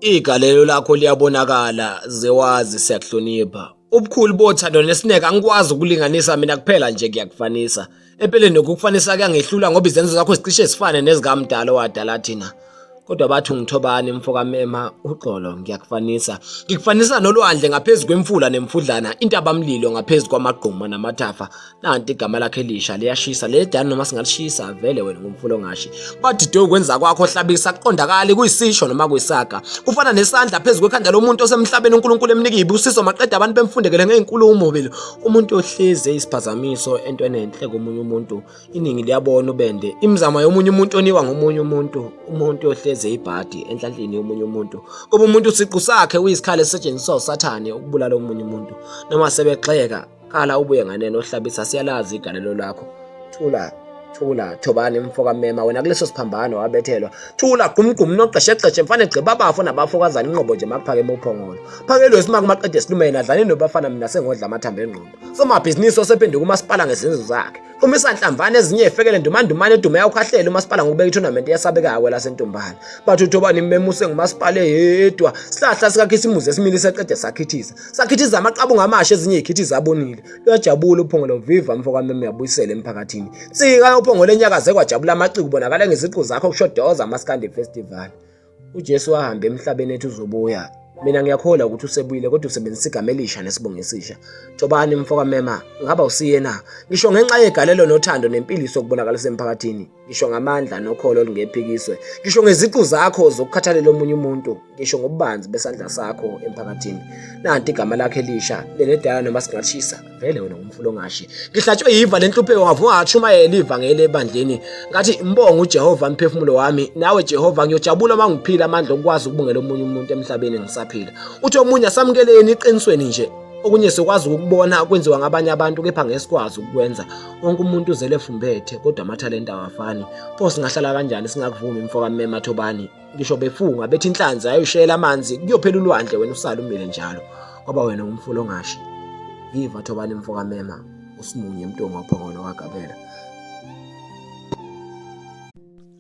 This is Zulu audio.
Igalelo lakho liyabonakala zewazi siyakuhlonipha. Ubukhulu bothando nesineke angikwazi ukulinganisa mina kuphela nje ngiyakufanisa. Empeleni nokukufanisa kuyangehlula ngoba izenzo zakho zicishe zifane nezikamdala owadala thina. Kodwa bathi ungithobani mfoka mema uxolo ngiyakufanisa. Ngikufanisa nolwandle ngaphezu kwemfula nemfudlana, intabamlilo ngaphezu kwamagquma namathafa. nanti igama lakhe elisha liyashisa leli dani noma singalishisa vele wena ngumfulo ngashi badide ukwenza kwakho hlabisa kuqondakali kuyisisho noma kuyisaga kufana nesandla phezu kwekhanda lomuntu osemhlabeni uNkulunkulu emnika ibusiso maqede abantu bemfundekele ngeenkulumo vele umuntu ohlezi eyisiphazamiso into enenhle komunye umuntu iningi liyabona ubende imizamo yomunye umuntu oniwa ngomunye umuntu umuntu ohlezi eyibhadi enhlanhleni yomunye umuntu kuba umuntu siqu sakhe uyisikhali esisetshenziswa usathane ukubulala omunye umuntu noma sebexeka Khala ubuye nganeno hlabisa siyalazi igalelo lakho. Thula thula thobani mfoka mema wena kuleso siphambano wabethelwa thula gumgum noqeshexeshe mfane gqiba abafo nabafokazana inqobo nje makuphakeme uphongolo phakelwe isimaki maqede silumene adlane nobafana mina sengodla amathambo engqondo somabhizinisi osephenduka umasipala ngezenzo zakhe Uma isanhlamvana ezinye efekele ndumandumane edume yawukhahlele umasipala ngokubeka itournament eyasabekayo kwelasentombana bathi uthoba nimemuse ngumasipala eyedwa sihlahla sikakhisimuzi esimile seqede sakhithiza sakhithiza amaqabunga amasha ezinye ikhithiza abonile luyajabula uphongolo viva mfo kameme uyabuyisela emphakathini sika uphongolo enyakaze kwajabula amaciko ubonakala ngeziqu zakho kusho doza amaskandi festival uJesu wahamba emhlabeni ethi uzobuya mina ngiyakholwa ukuthi usebuyile kodwa usebenzisa igama elisha nesibongo esisha thobani mfoka mema ngaba usiyena ngisho ngenxa yegalelo nothando nempilo isokubonakalisa emphakathini ngisho ngamandla nokholo olungephikiswe ngisho ngeziqu zakho zokukhathalela omunye umuntu ngisho ngobubanzi besandla sakho emphakathini nanti igama lakhe elisha lenedala noma singashisa vele wena umfula ongashi ngihlatshwe yiva lenhlupheko ngavuma ngashumayela ivangeli ebandleni ngathi mbonga uJehova mphefumulo wami nawe Jehova ngiyojabula uma ngiphila amandla okwazi ukubungela omunye umuntu emhlabeni ngisaphila uthi omunye asamukeleni iqinisweni nje okunye sikwazi ukubona kwenziwa ngabanye abantu kepha ngesikwazi ukukwenza wonke umuntu uzele fumbethe kodwa amathalente awafani pho singahlala kanjani singakuvumi mfoka mme mathobani ngisho befunga bethi inhlanzi ayoshela amanzi kuyophela ulwandle wena usala umile njalo ngoba wena ungumfula ongashi viva thobani mfoka mema usimunye mntunga ophongolo wagabela